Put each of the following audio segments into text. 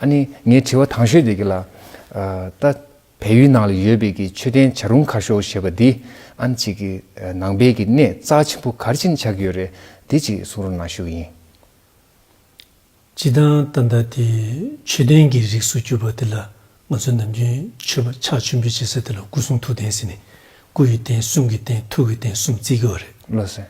ཨ་ནི་ངའི་དྲི་བ་དང་ཤོས་དེ་གི་ལ། ད། བལ་ཡུལ་ནང་ལ་ཡོད་པའི་གི་མཆོད་རྟེན་བྱ་རུང་ཁ་ཤོ་ཞེས་པ་འདི་ཨན་ཅིག་གི་ནང་བལ་གི་གནས་རྩ་ཆེན་པོ་གར་ཕྱིན་ཆགས་ཀྱི་ཡོད་རེད་དེ་ཅིག་གསུང་རོགས་གནང་ཞུ་ཡིན། སྤྱི་དང་ད་ལྟ་དེ་མཆོད་རྟེན་གི་རིགས་སུ་གྱུར་པ་དེ་ལ་ང་ཚོས་ནམ་རྒྱུན་མཆོད་པ་ཕྱག་མཆོད་འབུལ་བྱེད་ས་དེ་ལ་སྐུ་གསུང་ཐུགས་རྟེན་ཟེར་ནས་སྐུ་ཡི་རྟེན་གསུམ་གི་རྟེན་ཐུགས་ཀྱི་རྟེན་གསུམ་བརྩི་གི་བ་རེད། བློ་སེང།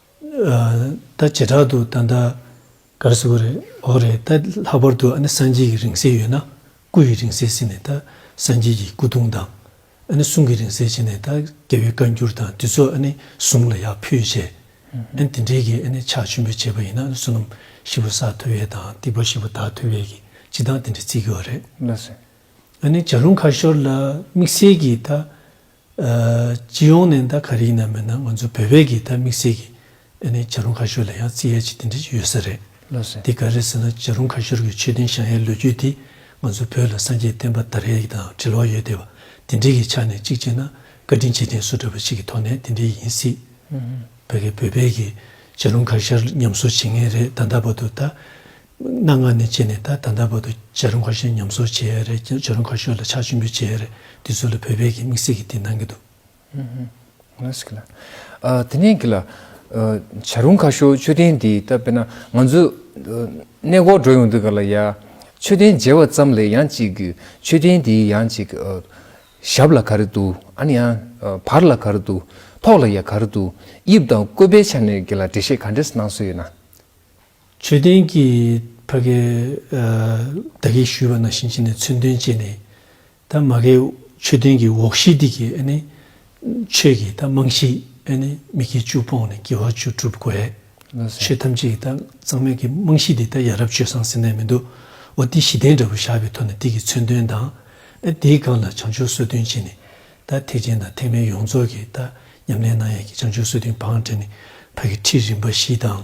ད་བྱེ་བྲག་ཏུ་ད་ལྟ་གར་ཟེར་བ་རེད་འོ་རེད་ད་ལྷག་པར་དུ་ཨ་ནི་སངས་རྒྱས་ཀྱི་རིང་བསྲེལ་ཡོད་ན་སྐུ་ཡི་རིང་བསྲེལ་ཟིན་ནས་ད་སངས་རྒྱས་ཀྱི་སྐུ་གདུང་དང། ཨ་ནི་གསུང་གི་རིང་བསྲེལ་བྱས་ནས་ད་རྒྱལ་བའི་བཀའ་འགྱུར་དང་དུས་ཚོད་ཨ་ནི་གཟུངས་ལ་ཡག་ཕུལ་བྱས། ཨ་ནི་དེ་འདྲའི་གི་ཨ་ནི་ཕྱག་མཆོད་འབུལ་བྱས་པ་ཡིན་ན་ཨ་ནི་བསོད་ནམས་ཤི་བོ་ས་ཐོ་བས་དང་སྡིག་པ་ཤི་བོ་ད་ཐོ་བས་གི་ཅི་དང་དེ་འདྲའི་ཚིག་གི་བ་རེད། ཨ་ནི་བྱ་རུང་ཁ་ཤོར་ལ་དམིགས་བསལ་གི་ད་སྤྱི་ཡོངས་ནས་ད་ག་རིགས་ན་མེད་ན་ང་ཚོ་བོད་པས་ཀྱིས་ད་དམིགས་བསལ་གྱིས་བྱ་རུང་ཁ་ཤོར་ལ་ཡང་རྩིས་ཡས་ཅིག་དེ་འདྲ་ཅིག་ཡོད་ས་རེད། དེ་ག་རེད་ཟེར་ན་བྱ་རུང་ཁ་ཤོར་གྱི་ཆོས་ལྡན་ཞང་ཡའི་ལོ་རྒྱུས་དེ་ང་ཚོ་བོད་ལ་སངས་རྒྱས་བསྟན་པ་དར་ཡས་ཀྱི་དང་འབྲེལ་བ་ཡོད་དེ་བ་དེ་འདྲིག་གི་ཆ་ནས་གཅིག་བྱས་ན་བཀའ་དྲིན་ཆེ་ལྡན་སུ་འདྲ་བ་ཞིག་གི་ཐོག་ནས་དེ་འདྲིག་ཡིན་སྲིད། བོད་པས་ཀྱིས་བྱ་རུང་ཁ་ཤར་ཉམས་གསོ་བྱེད་ངེས་རེད་ད་ད་བར་དུ་ད་གནའ་སྔ་ནས་བྱས་ནས་ད་ད་ལྟ་བར་དུ་བྱ་རུ་འགའ་ཤས་ཉམས་གསོ་བྱས་རེད་ཀྱང་བྱ་རུ་འགའ་ཤོས་ལ་ཆག་ཆེན་པོས་བྱས་རེད་དེ་ཚོ་ལ་བོད་པས་ཀྱི་དམིགས་བསལ་གྱི་དེ་གནང་གི་འདུག། དེ་ནས་ཀྱི་ལ། བྱ་རུ་འགའ་ཤོས་མཆོད་རྟེན་འདི་ལྟ་བས་ན་ང་ཚོས། གནས་སྐོར་འགྲོ་ཡོང་དུས་ག་ལ་ཡ། མཆོད་རྟེན་མཇལ་བ་ཙམ་ལས་ཡང་ཅིག་གི་མཆོད་རྟེན་འདིའི་ཡང་ཅིག་གི། ཞབས་ལ་ག་རེ་འདུག་ཨ་ནི་ཡང། བར་ལ་ག་རེ་འདུག་ཐོག་ལ་ཡང་ག་རེ་འདུག་དབྱིབས་དང་བཀོད་པའི་ཆ་ནས་ཀྱི་ལ་འགྲེལ་བཤད་ག་འདྲས་གནང་སྲོལ་ཡོད་ན། མཆོད་རྟེན་གྱི་བྷ་གའི་བདག་གིས་ཞུས་པ་ན་བྱིན་ཅིག་ནས་མཚོན་དོན་བཅས་ནི། ད་མ་གའི་མཆོད་རྟེན་གྱི་འོག་གཞི་སྟེགས་ཀྱི་ནི། ཆོས་ཀྱི་ད་རྨང་གཞིའི་ནི་མི་དཀྱིལ་བཅུ་སྤོང་ནས་དགེ་བ་བཅུ་བསྒྲུབ་དགོས། ཆོས་ཐམས་ཅད་ཀྱི་ད་གཙང་མའི་གྱི་རྨང་གཞི་འདི་ད་ཡ་རབས་སྤྱོད་བཟང་ཟིན་ནས་མི་འདུག་བ་འདི་གཞི་རྟེན་འདྲ་བོ་བཞག་པའི་ཐོག་ནས་སྟེགས་ཀྱི་མཚོན་དོན་དང། དེའི་སྒང་ལ་བྱང་ཆུབ་གསོལ་སྟོན་བཅས་ནི། ད་ཐེག་ཆེན་དང་ཐེག་དམན་ཡོངས་རྫོགས་ཀྱི་ད་ཉམས་ལེན་གནང་ཡས་ཀྱི་བྱང་ཆུབ་གསོལ་སྟོན་བང་སྒྲིག་ནི་བྷ་གའི་ཁྲིད་རིམ་པ་བཞི་དང།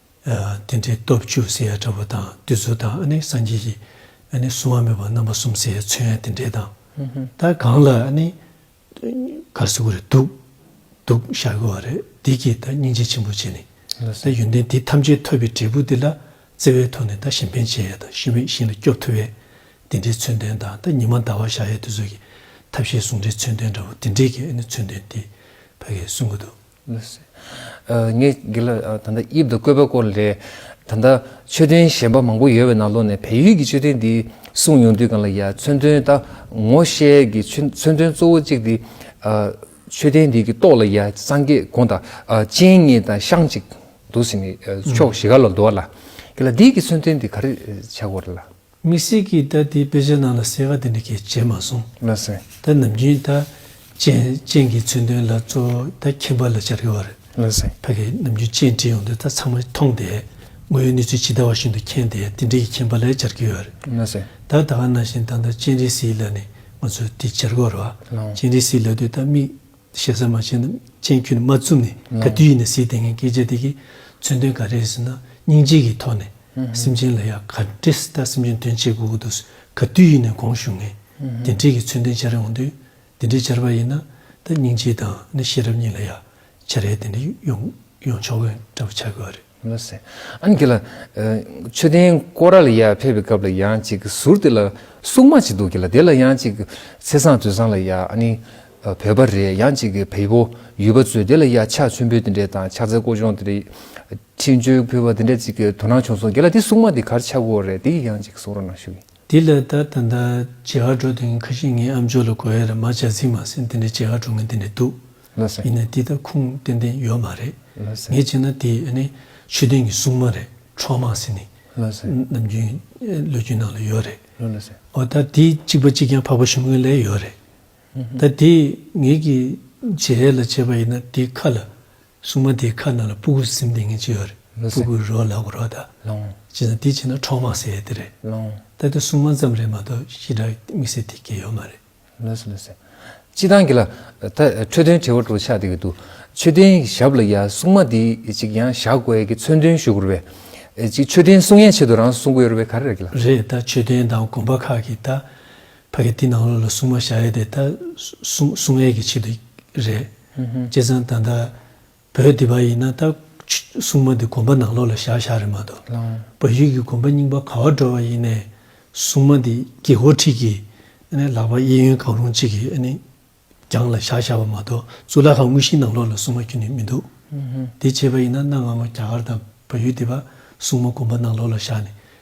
དེ་འདྲའི་སྟོབས་བཅུ་ཟེར་ཡང་འདྲ་བོ་དང་བདུད་རྩི་དང་ནི་སངས་རྒྱས་ཀྱི་ནི་གསུང་བ་མེད་པ་རྣམ་པ་གསུམ་ཟེར་ཡང་ཚོན་ཡང་དེ་འདྲའི་དང། ད་གང་ལ་ནི་གར་སིག་གུ་རེ་འདུག་འདུག་ཤར་གི་བ་རེ་འདི་ཀྱིས་ད་སྙིང་རྗེ་ཆེན་པོ་བྱས་ནས་ད་ཡོན་ཏན་དེ་ཐམས་ཅད་ཐོབ་པའི་འབྲས་བུ་དེ་ལ་བརྩེ་བས་ཐོག་ནས་ད་གཞན་ཕན་བྱེད་ཡས་དང་ཤི་བའི་ཤིང་ལ་སྐྱོབ་ཐུབ་བས་དེ་འདྲའི་ཚོན་ལྡན་དང་ད་ཉི་མ་ཟླ་བ་ཞག་ཡས་དུས་ཚོད་ཀྱི་ཐབས་ཤེས་ཟུང་འབྲེལ་ཚོན་ལྡན་འདྲ་བོ་དེ་འདྲའི་གི་ནི་ཚོན་ལྡན་དེ་བས་གསུང་གི་འདུག། ངས་འདི་ལ་ད་ལྟ་དབྱིབས་དང་བཀོད་པའི་སྐོར་ལས། ད་ལྟ་མཆོད་རྟེན་གཞན་པ་མང་པོ་ཡོད་པའི་ནང་ལོགས་ནས་བལ་ཡུལ་གྱི་མཆོད་རྟེན་འདི་གསུངས་ཡོང་དུས་གང་ལ་ཡ་མཚོན་དོན་ད་ངོ་ཤེས་ཀྱི་མཚོན་དོན་གཙོ་བོ་གཅིག་དེ། མཆོད་རྟེན་འདི་གི་ཏོག་ལ་ཡ་སངས་རྒྱས་དགོངས་དང་སྤྱན་གཉིས་དང་ཤངས་གཅིག་འདུག་ཟེར་ནས་ཕྱོགས་བཞི་ཀ་ལ་འདུག་ལ། འདི་ལ་འདི་གི་མཚོན་དོན་དེ་ག་རེ་བྱ་དགོས་རེད་ལ། དམིགས་བསལ་གྱིས་ད་ལྟའི་དཔེ་ཆའི་ནང་ལ་གསལ་ཁ་དེ་འདྲ་ཁྱེད་བྱས་མ་སོང། ལ་སེང། ད་ནམ་རྒྱུན་ད་ཅན་ཅན་གྱི་མཚོན་དོན་ལ་གཙོ་བོ་ད་ཁྱིམ་པ་ལ་སྦྱར་གི་བ་རེད། ལ་སེང། ཕ་གིས་ནམ་རྒྱུན་ཅན་བྲིས་ཡོང་དོན་ད་ཚང་མ་མཐོང་སྟེ་དངོས་ཡོད་གནས་ཚུལ་ཇི་ལྟ་བ་བཞིན་དུ་མཁྱེན་ཏེ་དེ་འབྲེལ་གྱི་ཁྱིམ་པ་ལ་ཡང་སྦྱར་གི་ཡོད་རེད། ལ་སེང། ད་ད་ག་ནང་བཞིན་ད་ད་ཅན་རིས་སིའི་ལ་ནས་ང་ཚོས་དེ་སྦྱར་གི་བ་རེད་བ། ཅན་རིས་སིའི་ལ་དུས་ད་དམིགས། ཞེ་ས་མ་བྱས་ན་སྤྱན་ཁྱོད་ནི་མ་བཙུམས་ནས་ག་དུས་ཡིན་ན་ཟིག་དེ་ངས་སྐད་ཆ་དེ་གས་མཚོན་དོན་ག་རེད་ཟེར་ན་སྙིང་རྗེ་གི་ཐོག་ནས་སེམས་ཅན་ལ་ཡག་ག་འདྲི་ད་སེམས་ཅན་དོན་བྱེད་དགོས་གི་འདུག་ག་དུས་ཡིན་ན་གོང་ཞུ་ངས་དེ་འདྲི་གི་མཚོན་དོན་བྱ་རེ་འོང་དུས་དེ་འདྲི་བྱར་པ་ཡིན་ན་ད་སྙིང་རྗེ་དང་ནི་ཤེས་རབ་གཉིས་ལ་ཡག་བྱ་རེ་དེ་འདྲི་ཡོང་ཡོང་ཆོག་གི་འདྲ་བོ་བྱ་དགོས་བ་རེད། མི་སྲིད། ཨན་གྱིས་ལ། མཆོད་རྟེན་ཀོ་ར་ལ་ཡ་ཕེབས་པའི་སྐབས་ལ་ཡང་ཅིག་ཟུར་དེ་ལ་སྲུང་མ་ཅིག་འདུག་གི་ལ་དེ་ལ་ཡང་ཅིག་ཚེ་བཟང་དུས་བཟང་ལ་ཡ་ཨ་ནི་བོད་པ་རེད་ཡང་ཅིག་བལ་པོ་ཡུལ་པ་ཚོས་དེ་ལ་ཡ་ཕྱག་མཆོད་འབུལ་དེ་འདྲས་དང་ཕྱག་འཚལ་བསྐོ་སྦྱོང་དེ་འདྲས་ཕྱི་མཆོད་ཕུལ་བ་དེ་འདྲས་ཅིག་དོ་སྣང་བྱུང་སོང་གི་ལ་དེ་སྲུང་མ་དེ་གར་ཆགས་དགོས་རེད་དེ་གི་ཡང་ཅིག་གསུང་རོགས་གནང་ཞུ་གི། དེ་ལ་ད་ད་ལྟ་ཇེ་ཧ་འགྲོ་དེ་ཁ་ཤི་ངའི་ཨ་མཆོག་ལ་གོ་ཡ་ར་མ་བྱ་ཟིག་མ་ཟིག་དེ་འདྲས་ཇེ་ཧ་འགྲོ་ངན་དེ་འདྲས་འདུག། ཡིན་ན་འདི་ད་ཁུངས་ཏན་ཏན་ཡོད་མ་རེད། ངས་བྱས་ན་དེ་ནི་ཆོས་ལྡན་གྱི་སྲུང་མ་རེད་འཕྲོག་མང་སེ་ནི། ནམ་རྒྱུན་བློས་རྒྱུན་ནང་ལ་ཡོད་རེད། འོ་ད་དེ་གཅིག་པ་གཅིག་ཀྱང་འཕགས་པ་ཞུམ་མཁན་ལས་ཡོད་རེད། ད་དེ་ངེད་ཀྱི་བྱེད་རལ་ལ་བྱས་པ་ཡིན་ན་དེ་ཁ་ལ་སྲུང་མ་དེའི་ཁ་ནང་ལ་སྤུ་གུ་སིམ་ལྡིང་མཁན་གཅིག་ཡོད་རེད་སྤུ་གུ་རོ་ལག་རོ་ད། བྱས་ན་དེ་བྱས་ན་འཕྲོག་མང་སེ་དེ་རེད། ད་དེ་སྲུང་མ་ཙམ་རེད་མ་གཏོགས་ཤི་དྲག་དམིགས་བསལ་དེ་སྐྱེ་ཡོད་མ་རེད། ལོས་སུ་ལོས་སུ། ཅི་དང་གྱི་ལ། འཕྲོས་དོན་བྲི་བར་འགྲོ་ཆགས་འདི་གི་འདུག། མཆོད་རྟེན་ཞབས་ལ་ཡ་སྲུང་མ་འདི་ཅིག་ཡང་བཞག་དགོས་ཡ་གི་མཚོན་དོན་ཞུ་དགོས་རེད་པས། ཅིག་མཆོད་རྟེན་སྲུང་ཡའི་ཆེད་དུ་རང་སྲུང་གི་ཡོད་རེད་པས་ག་རེ་རེད་གི་ལ། རེད་ད་མཆོད་རྟེན་དང་དགོན་པ་ཁག་གི་ད་ཕ་གི་འདི་ནང་ལོ་ལ་སྲུང་མ་བཞག་ཡ་དེ་ད་སྲུང་སྲུང་ཡའི་གི་ཆེད་དུ་རེད། བྱས་ཙང་ད་ད་བོད་འདི་པ་ཡིན་ན་ད། སྲུང་མ་འདི་དགོན་པ་ནང་ལོགས་ལ་བཞག་བཞག་རེད་མ་གཏོགས། བོད་ཡིག་གི་དགོན་པ་རྙིང་པ་ག་བ་འགྲོ་བ་ཡིན་ནས། སྲུང་མ་འདི་དགེ་བསྐོར་ཁྲིད་ཀྱིས། ལག་པ་གཡས་གཡོན་གང་རུང་གཅིག་གིས་རྒྱང་ལ་བཞག་བཞག་བ་མ་གཏོགས་གཙུག་ལག་ཁང་དངོས་གཞིའི་ནང་ལོགས་ལ་སྲུང་མ་ཁྱོན་ནས་མི་འདུག། དེ་བྱས་པ་ཡིན་ན་གནའ་སྔ་མོ་རྒྱ་གར་དང་བོད་ཡུལ་འདི་པ་སྲུང་མ་དགོན་པ་ནང་ལོགས་ལ་བཞག་ནས་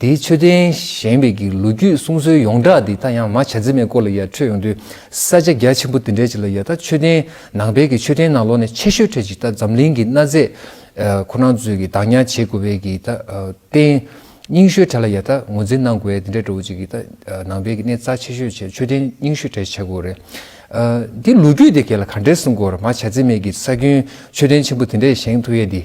དེའི་མཆོད་རྟེན་བཞེངས་པའི་གི་ལོ་རྒྱུས་གསུང་སྲོལ་ཡོངས་གྲགས་འདི་ད་ཡང་མ་བྱ་རྩིས་མེད་སྐོར་ལ་ཡར་འཕྲོས་ཡོང་དུས་ས་ཆ་རྒྱ་ཆེན་པོ་དེ་འདྲའི་ཆེ་ལ་ཡར་ད་མཆོད་རྟེན་ནང་བལ་གྱི་མཆོད་རྟེན་ནང་ལོགས་ནས་ཆེ་ཤོས་ཁྲོད་ཅིག་ད་འཛམ་གླིང་གི་གནའ་རྫས་ཁོ་ན་ཚོས་གི་བདག་ཉར་བྱེད་དགོས་བལ་གི་ད་རྟེན་རྙིང་ཤོས་གྲས་ལ་ཡར་ད་ངོས་འཛིན་གནང་དགོས་བལ་དེ་འདྲ་འགྲོ་བོ་ཅིག་གི་ད་ནང་བལ་གི་གནས་རྩ་ཆེ་ཤོས་བྱེད་མཆོད་རྟེན་རྙིང་ཤོས་གྲས་བྱེད་དགོས་རེད། འདི་ལོ་རྒྱུས་དེ་གས་ལ་ག་འདྲའི་གསུང་སྐོར་མ་བྱ་རྩིས་མེད་གི་ས་རྒྱུན་མཆོད་རྟེན་ཆེན་པོ་དེ་འདྲས་བཞེངས་ཐུ་ཡས་འདི།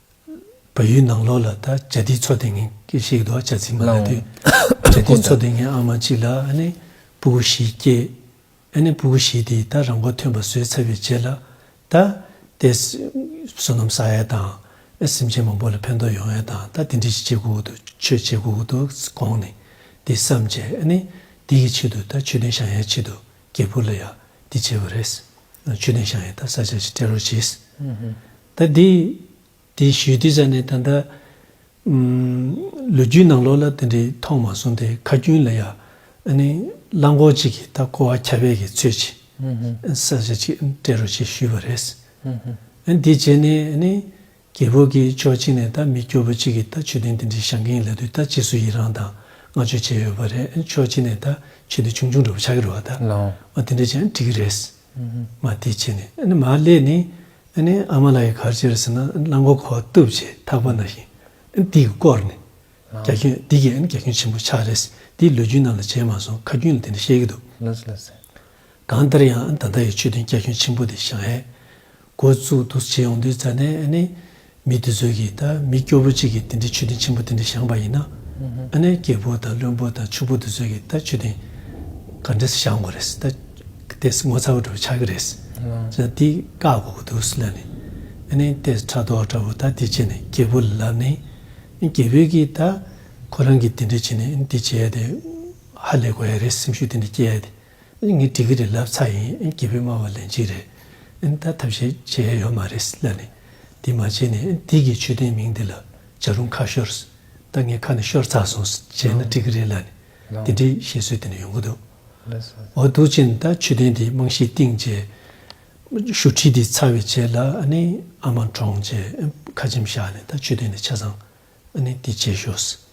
བོད་ཡུལ་ནང་ལོགས་ལ་ད་ཇ་དིའི་ཚོ་དེ་ངན་སྐད་བཤད་ཀྱི་འདུག་ཨ་ཇ་ཚིག་མ་ལ་དེ། ཇ་དིའི་ཚོ་དེ་ངན་ཨ་མ་གཅིག་ལ་ཨ་ནེ་སྤུ་གུ་བཞི་སྐྱེས། ཨ་ནེ་སྤུ་གུ་བཞི་དེས་ད་རང་མགོ་ཐོན་པ་བཟོས་ཚར་བའི་རྗེས་ལ་ད། དེ། བསོད་ནམས་བསགས་ཡས་དང་ཨ་སེམས་ཅན་མང་པོ་ལ་ཕན་ཐོགས་ཡོང་ཡས་དང་ད་དེ་འདྲི་ཞིག་བྱེད་དགོས་ཀྱི་འདུག་ཆོས་བྱེད་དགོས་ཀྱི་འདུག་དགོངས་ནས་དེ་བསམ་རྗེས་ཨ་ནེ་དེ་ཡི་ཆེད་དུ་ད་མཆོད་རྟེན་བཞག་ཡས་ཆེད་དུ་རྒྱལ་ཕུར་ལ་ཡག་འདི་བྱས་པ་རེད། མཆོད་རྟེན་བཞག་ཡས་ད་ས་ཆ་ཞིག་སྤྲད་རོགས་གྱིས། ད་དེ་དེ་ཞུས་དུས་ས་ནས་ད་ལྟ། ལོ་རྒྱུས་ནང་ལོགས་ལ་དེ་འདྲའི་མཐོང་མ་སོང་སྟེ་ཁ་རྒྱུན་ལ་ཡང། གླང་གོག་ཅིག་གིས་ད་ཀོ་བ་ཁྱབ་སྤེལ་གྱི་ཚོད་ཅིག་ས་ཆ་ཅིག་སྤྲད་རོགས་ཞེས་ཞུས་པ་རེད། དེ་བྱས་ནས་རྒྱལ་པོ་གིས་ཕྱོགས་གཅིག་ནས་ད་མི་སྐྱོ་པོ་ཅིག་གིས་ད་ཆོས་དོན་དེ་འདྲའི་བྱ་མཁན་ལ་དུས་ད་རྗེས་སུ་ཡི་རང་དང་བསྔགས་བརྗོད་བྱས་ཡོད་པ་རེད་ཕྱོགས་གཅིག་ནས་ད་ཆོས་དེ་ཆུང་ཆུང་འགྲོ་བ་ཆགས་ཀྱི་རོགས་ད། འོ་དེ་འདྲ་བྱས་ན་འགྲིག་གི་རེད། མ་དེ་བྱས་ནས་ཨ་ནི་མ་ལས་ནི། ཨ་ནི་ཨ་མ་ལ་ཡི་གར་བྱེར་ཟིན་ན་རླངས་འཁོར་ཁོ་བཏུབ་བྱས་ཐག་པ་ན་ཞིང་ཨ་དིག་བསྐོར་ནས་རྒྱ་ཁྱོན་དིག་གིས་ཨ་ནི་རྒྱ་ཁྱོན་ཆེན་པོ་ཆགས་རེས་དིག་ལུས་རྒྱུན་རྣམས་ལ་བྱས་མ་སོང་ཁ་རྒྱུན་ལ་དེ་འདྲ་བཤད་གི་འདུག་གང་ལྟར་ཡང་ཨ་ནི་ད་ལྟ་ཡི་ཆོས་དོན་རྒྱ་ཁྱོན་ཆེན་པོ་དེ་ཞང་ཧའེ་འགོ་བཙུགས་འདུག་བྱས་ཡོང་དུས་རྫ་ནས་ཨ་ནེ་མི་དེ་ཚོས་ཀྱིས་ད་མི་སྐྱོ་བོ་གཅིག་གིས་དེ་འདྲའི་མཆོད་རྟེན་ཆེན་པོ་དེ་འདྲ་བཞེངས་པ་ཡིན་ན་ཨ་ནེ་སྐྱེས་ཕོ་དང་བློན་པོ་དང་ཕྱུག་པོ་དེ་ཚོས་ཀྱིས་ད་མཆོད་རྟེན་ག་འདྲས་བཞག་དགོས་རེད་ད་ལྟས་ངོ་ཚ་བོ་འདྲ་བོ་ཆགས་ཀྱི་རེད་ཅེས་ན་འདི་བཀག་དགོས་ཀྱི་འདུག་ལབ་ནས་ཨ་ནེ་ལྟས་ཕྲག་དོག་འདྲ་བོ་ད་འདི་བྱས་ནས་སྐྱེས་ཕོ་ལ་ལབ་ནས་སྐྱེས་ཕོས་ཀྱིས་ད་ཁོ་རང་གིས་དེ་འདྲས་བྱས་ནས་འདི་བྱས་ཏེ་ཧ་ལས་དགོས་ཡ་རེད་སེམས་ཤུགས་དེ་འདྲས་སྐྱེས་ཡ་དེ། ངའི་དྲི་གི་རེད་ལབ་ཚ་ཡིན་སྐྱིད་པོའི་སྨྲ་བ་ལན་གཅིག་རེད་ཨིན་ད་ཐབས་ཤེས་བྱེད་ཡ་ཡོད་མ་རེད་སླད་ནི་འདི་མ་བྱེད་ནས་འདི་གི་ཆོས་ལྡན་མིང་འདི་ལ་བྱ་རུང་ཁ་ཤོར་ད་ངའི་ཁ་ནས་ཤོར་ཚར་སོང་བྱས་ན་འགྲིག་གི་རེད་སླད་ནི་འདི་འདྲའི་བཤད་སྲོལ་དེ་ནས་ཡོང་གི་འདུག་འོ་འདུག་ཕྱིན་ད་ཆོས་ལྡན་འདི་རྨང་གཞི་བཏིང་རྗེས་ཞུ་ཁྲི་འདི་ཚར་བའི་རྗེས་ལ་ཨ་ནེ་ཨ་མ་འདྲོངས་རྗེས་ཁ་ཆེམས་བཞག་ནས་ད་ཆོས་ལྡན་འདི་ཆ་ཚང་ཨ་ནི་འདི་བྱེད་ཤོག།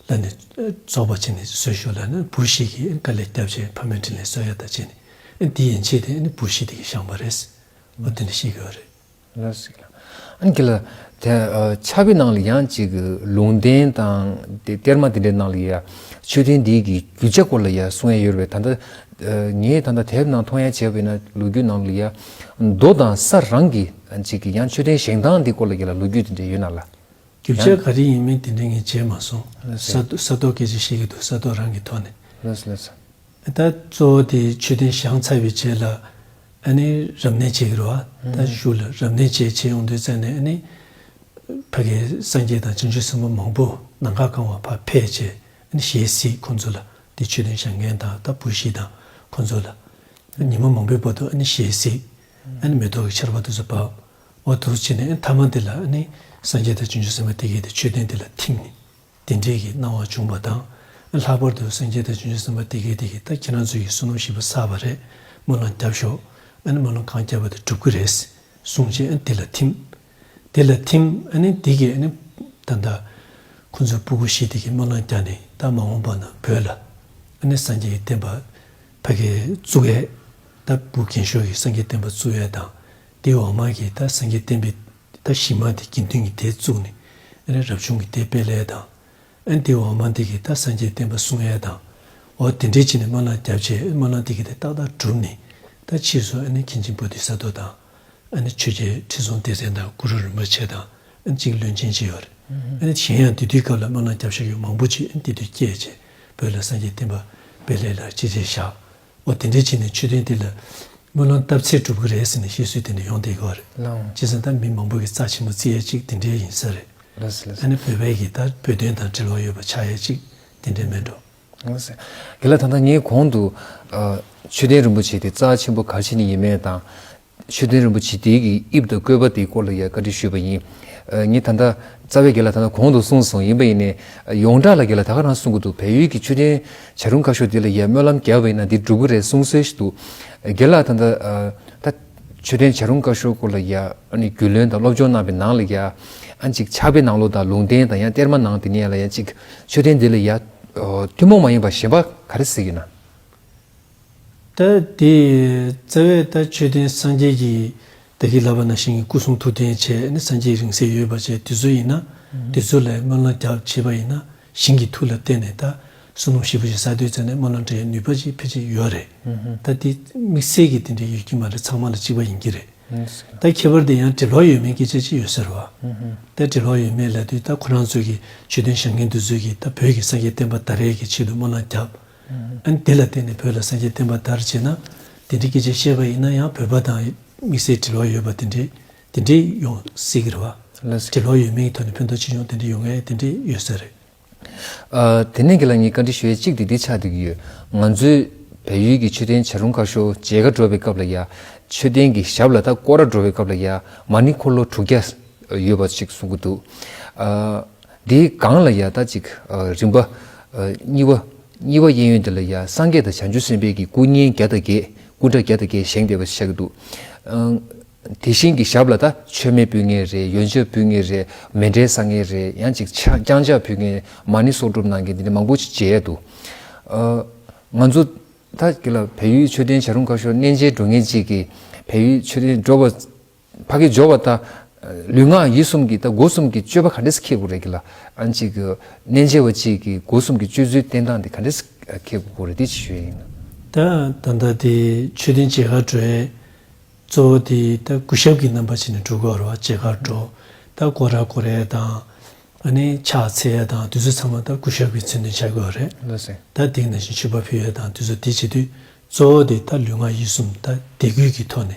ལ་ནི། རྫོགས་པར་བྱས་ནས་གསོལ་ཤོག་ལ་ནི་བུར་ཤིག་གིས་དཀའ་ལས་སྐྱབས་བྱས་ཕ་མའི་དྲིན་ལས་གསོལ་ཡ་དག་བྱས་ནས་འདི་ཡན་ཆད་དེ་ནི་བུར་ཤིག་དེ་གིས་བཤངས་པ་རེད། ཨོ་དེ་ནི་ཤེས་གི་ཨོ་རེད། ལ་ཞིག་ལ། ཨ་ནི་དེ་ལ། དེ་ཆ་བི་ནང་ལ་ཡང་ཅིག་ལུང་བསྟན་དང་གཏེར་མ་དེ་འདྲའི་ནང་ལ་ཡང་མཆོད་རྟེན་འདི་ཡི་རྒྱུ་ཆ་སྐོར་ལ་ཡང་གསུང་ཡ་ཡོད་རེད་བས་ད་ལྟ་ངས་ད་ལྟ་དེབ་ནང་མཐོང་ཡ་བྱས་བས་ན་ལོ་རྒྱུས་ནང་ལ་ཡང་རྡོ་དང་ས་རང་གི་ཅིག་ཡང་མཆོད་རྟེན་བཞེངས་སྟངས་འདི་སྐོར་ལ་ཡང་ལོ་རྒྱུས་དེ་འདྲའི་ཡོད་ན་ལ། རྒྱུ་ཆ་ག་རེ་ཡིན་མིན་དེ་འདྲའི་ངས་བརྗེད་མ་སོང། ས་རྡོ་སྐད་ཅིག་བཤད་ཀྱི་འདུག་ས་རྡོ་རང་གི་ཐོག་ནས། ད་གཙོ་བོ་དེ་མཆོད་རྟེན་བཞེངས་ཚར་བའི་རྗེས་ལ་ཨ་ནེ་རབ་གནས་བྱེད་ཀྱི་རུ་བ་ད་བཞུགས་ལ་རབ་གནས་བཅས་བྱེད་ཡོང་དུས་རྩ་ནས་ཨ་ནེ་ཕ་གིའི་སངས་རྒྱས་དང་ཅི་འབྱོན་སྲིན་པོ་མང་པོ་ནང་ཁ་བཀང་བ་ཕ་ཕས་བཅས་ཨ་ནེ་གཞས་སྲིད་ཁོང་ཚོ་ལ་དེ་མཆོད་རྟེན་བཞེངས་མཁན་དང་ད་བུ་བཞི་དང་ཁོང་ཚོ་ལ། ཉིན་མོ་མང་པོའི་བར་དུ་ཨ་ནེ་གཞས་སྲིད། ཨ་ནེ་མེ་ཏོག་གི་ཆར་བ་དུས་སུ་བབས། བ་དུར་བྱས་ནས་ཐ་མ་འདི་ལ་ནི་སངས་རྒྱས་དང་བྱང་ཆུབ་སེམས་དཔའ་དེ་སྐད་དུ་མཆོད་རྟེན་འདི་ལ་ཐིམ་ནས་དེ་འབྲས་ཀྱི་སྣང་བ་འབྱུང་བ་དང། ལྷག་པར་དུ་སངས་རྒྱས་དང་བྱང་ཆུབ་སེམས་དཔའ་དེ་སྐད་དེ་ཡི་དྭགས་ཁྱེད་རང་ཚོས་ཀྱིས་བསོད་ནམས་བཞི་པོ་བསགས་པ་རེད་སྨོན་ལམ་བརྒྱབ་ཤོག་སྨོན་ལམ་གང་བརྒྱབ་པ་དེ་འགྲུབ་ཀྱི་རེད་གསུངས་རྗེས་དེ་ལ་ཐིམ། དེ་ལ་ཐིམ། དེ་སྐད་ནི་ད་ལྟ་ཁོ་ཚོས་སྤུ་གུ་ཤི་དེ་སྐད་སྨོན་ལམ་བརྒྱབ་ནས་ད་མ་འོངས་པ་ན་བོད་ལ་ནི་སངས་རྒྱས་ཀྱི་བསྟན་པ་ཕ་གི་གཙུག་ཨད་ད་བུ་རྒན་ཤོག་གིས་སངས་རྒྱས་བསྟན་པ་གཙུག་ཨད་དང། དེ་འོག་མ་གི་ད་སེང་གེ་བསྟན་པའི་ད་བཞི་མ་དེ་དགེ་འདུན་གྱི་དེ་བཙུགས་ནས་ཨེ་རབ་བྱུང་གི་དེ་སྤེལ་ཨེ་དང། ཨེ་དེ་འོག་མ་འདི་གི་ད་སངས་རྒྱས་བསྟན་པ་གསུང་ཨེ་དང། འོ་དེ་འདྲའི་ཕྱི་ནས་སྨོན་ལམ་བརྒྱ་བྱས་ཨེ་སྨོན་ལམ་དེ་གི་དེ་ཏག་ཏག་གྲུབ་ནས་ད་ཕྱིས་སུ་ཨེ་མཁན་ཆེན་བོ་དྷི་ས་ཏོ་དང། ཨེ་ཆོས་རྒྱལ་ཁྲི་སྲོང་ལྡེ་བཙན་དང་གུ་རུ་རིན་པོ་ཆེ་དང་ཨེ་གཅིག་བློན་ཆེན་བྱས་ཨོ་རེད། ཨེ་གཞན་ཡང་དེ་དུས་སྐབས་ལ་སྨོན་ལམ་བརྒྱ་བྱ་ཡུལ་མང་པོ་ཅིག་ཨེ་དེ་དུས་སྐྱེས་བྱས་བོད་ལ་སངས་རྒྱས་བསྟན་པ་སྤེལ་ཨེ་ལ་ཅི་བྱས་ཞག་འོ་དེ་འདྲའི་ཕྱིན་ནས་ཆོས་ཐུན་འདི་ལ། དངུལ་ལོང་བཏབ་ཚེ་འགྲུབ་གི་རེད་ཟེར་ནས་བཤད་སྲོལ་དེ་འདྲ་ཡོང་བསྡད་གི་རེད། སྤྱིར་བཟང་ཐང་མི་མང་པོ་གི་རྩ་ཆེན་མོ་རྩི་ཡས་ཅིག་དེ་འདྲའི་ཡིན་ས་རེད། ད་ནི་བོད་པའི་གིས་ད་བོད་དོན་དང་འབྲེལ་བ་ཡོད་པ་ཆགས་ཡས་ཅིག་དེ་འདྲའི་མེད་འགྲོ། དེ་ལ་ད་ལྟ་ངས་གོང་དུ། ཆོས་ལྡན་རིན་པོ་ཆེ་དེ་རྩ་ཆེན་པོ་ག་ཕྱིན་ནས་ཡིན་མེད་དང། ཆོས་ལྡན་རིན་པོ་ཆེས་དེའི་གི་དབྱིབས་དང་བཀོད་པ་དེའི་སྐོར་ལ་ཡང་བཀའ་དྲིན་ཞུས་པ་ཡིན། ངས་ད་ལྟ་རྩ་བའི་དགེ་ལ་ད་ལྟ་གོང་དུ་གསུངས་སོང་ཡིན་པ་ཡིན་ནས་ཡོངས་གྲགས་ལ་དགེ་ལ་ད་ག་རང་གསུངས་གི་འདུག་བལ་ཡུལ་གྱི་ཆོས་ལྡན་བྱ་རུང་ཁ་ཤོ་དེ་ལ་ཡང་སྨོན་ལམ་རྒྱབ་པ་ཡིན་ན་འདི་འགྲུབ་གི་རེད་གསུངས་སྲོལ་ཞིག་འདུག་དགེ་ལ་ད་ལྟ་ད་ཆོས་ལྡན་བྱ་རུང་ཁ་ཤོ་སྐོར་ལ་ཡང་རྒྱུས་ལོན་དང་སློབ་སྦྱོང་གནང་པའི་ནང་ལ་ཡང་ཅིག་ཕྱག་དཔེ་ནང་ལོ་དང་ལུང་བསྟན་དང་ཡང་གཏེར་མ་ནང་དེ་ནས་ལ་ཡང་ཅིག་ཆོས་ལྡན་འདི་ལ་ཡང་ཐུན་མོང་མ་ཡིན་པ་གཞན་པ་ག་རེ་གཟིགས་ཡོད་ན། ལྟར། དེ་ཡི་རྩ་བའི་ལྟར་མཆོད་རྟེན་སངས་རྒྱས་ཀྱི། བདག་གིས་བསླབ་པ་ན་ཤིང་གི་སྐུ་གསུང་ཐུགས་རྟེན་བྱས་ནས་སངས་རྒྱས་རིང་བསྲེལ་ཡོད་པར་བྱས་དུས་ཚོད་ཡིན་ན། དུས་ཚོད་ལས་སྨོན་ལམ་རྒྱག་བྱེད་པ་ཡིན་ན་ཤིང་གི་ཐུགས་ལ་བརྟེན་ནས་ད་གསུམ་ལོ་བཞི་བརྒྱ་ཞིག་ས་རྡོས་བཙལ་ནས་སྨོན་ལམ་འདྲེན་ནུས་པ་ཞིག་ཕལ་ཆེར་ཡོད་རེད། ད་དེ་དམིགས་བསལ་གྱི་དེ་འདྲ་ཡོད་ཀྱི་མ་རེད་ཚང་མ་ལ་གཅིག་པ་ཡིན་གྱི་རེད། ད་ཁྱད་པར་དེ་ཡང་འབྲི་ཀློག་ཡོད་མེད་སྐད་ཆ་ཅི་ཡོད་ཟེར་བ། ད་འབྲི་ཀློག་ཡོད་མེད་ལས་དུས་ད་ཁོ་རང་ཚོས་ཀྱི་མཆོད་རྟེན་བཞེངས་མཁན་དུ་ཚོད་ཀྱིས་ད་བོད་ཀྱི་སངས་རྒྱས་བསྟན་པ་ད་རེས་ཀྱི་ཆེད་དུ་སྨོན་ལམ་རྒྱབ་དེ་ལ་བརྟེན་ནས་བོད་ལ་སངས་རྒྱས་བསྟན་པ་དར་བྱེད་ན། དེ་འདྲའི་སྐད་ཆ་བཤད་པ་ཡིན་ན་ཡང་བོད་པ་དང་དམིགས་བསལ་འབྲེལ་བ་ཡོད་པ་དེ་འདྲས་དེ་འདྲས་ཡོང་སྲིད་ཀྱི་རེད་བ། འབྲེལ་བ་ཡོད་མེད་ཀྱི་ཐོག་ནས་ཕན་ཐོག་ཅི་འབྱུང་དེ་འདྲས་ཡོང་མཁན་དེ་འདྲས་ཡོད་ས་རེད། དེ་ནས་ཁྱེད་ལ་ངས་བཀའ་འདྲི་ཞུ་ཡ་གཅིག་དེ་འདི་ཆགས་སྡོད་ཀྱི་ཡོད། ང་ཚོའི་བལ་ཡུལ་གྱི་མཆོད་རྟེན་བྱ་རུང་ཁ་ཤོ་མཇལ་ཁ་འགྲོ་བའི་སྐབས་ལ་ཡ། མཆོད་རྟེན་གྱི་ཞབས་ལ་ཐག་སྐོར་ར་འགྲོ་བའི་སྐབས་ལ་ཡ་མ་ནི་འཁོར་ལོ་དྲུག་བརྒྱ་ཡོད་པ་ཞིག་གསུང་གི་འདུག། འདིའི་སྒང་ལ་ཡང་ད་ཅིག་རིམ་པ། གཉིས་པ། གཉིས་པ་གཡས་གཡོན་འདི་ལ་ཡང་སངས་རྒྱས་དང་བྱང་ཆུབ་སེམས་དཔའི་གྱི་སྐུ་བསྙེན་བརྒྱ་དང་བརྒྱད་སྐུ་འདྲ་བརྒྱ་དང་བརྒྱད་བཞེངས་བསྡད་པ་ཞིག་ཆགས་ཀྱི་འདུག། དེ་བཞིན་གྱི་ཞབས་ལ་ད་ཆོས་མེད་ཕུལ་ངེས་རེད་ཡོན་ཆབ་ཕུལ་ངེས་རེད་མེ་འབྲས་བཟང་ངེས་རེད་ཡང་ཅིག་རྐྱང་ཆགས་ཕུལ་ངེས་མ་ནི་གསོག་སྒྲུབ་གནང་མཁན་འདི་འདྲ་མང་པོ་ཞིག་མཇལ་ཡས་འདུག། ང་ཚོ་ད་ཀྱི་ལ་བལ་ཡུལ་ཆོས་ལྡན་བྱ་རུང་ཁ་ཤོར་གནས་མཇལ་འགྲོ་ངེས་ཅིག་གིས་བལ་ཡུལ་ཆོས་ལྡན་འགྲོ་བ། ཕ་གི་སྦྱོར་བ་ད། ལུས་ངག་ཡིད་གསུམ་གྱི་ད་སྒོ་གསུམ་གྱི་སྤྱོད་པ་ག་འདྲེས་ཁེགས་དགོས་རེད་གི་ལ། གཅིག་གི། གནས་མཇལ་བ་གཅིག་གི་སྒོ་གསུམ་གྱི་སྤྱོད་ཚུལ་བསྟན་སྟངས་དེ་ག་འདྲེས་ཁེགས་དགོས་རེད་དེ་ཅི་ཞུ་ཡ་ཡིན་ན། ད་ད་ལྟ་དེ་ཆོས་ལྡན་བྱེས་ཁར་འགྲོ་ཡས། གཙོ་བོ་དེ་ད་སྐུ་ཞབས་ཀྱི་རྣམ་པ་བྱས་ནས་འགྲོ་དགོས་ར་བ་བྱེས་ཁར་འགྲོ། ད་སྐོར་ར་སྐོར་ཡས་དང། ཨ་ནི་ཕྱག་འཚལ་ཡས་དང་དུས་ཚོད་ཚང་མ་ད་སྐུ་ཞབས་ཀྱི་མཚོན་དོན་བྱ་དགོས་རེད། ལོས་ཟེར། ད་དེང་ན་བཞིན་ཆོས་པ་ཕུལ་ཡས་དང་དུས་ཚོད་དེ་བྱེད་དུས་གཙོ་བོ་དེ་ད་ལུས་ངག་ཡིད་གསུམ་ད་དད་གུས་ཀྱི་ཐོག་ནས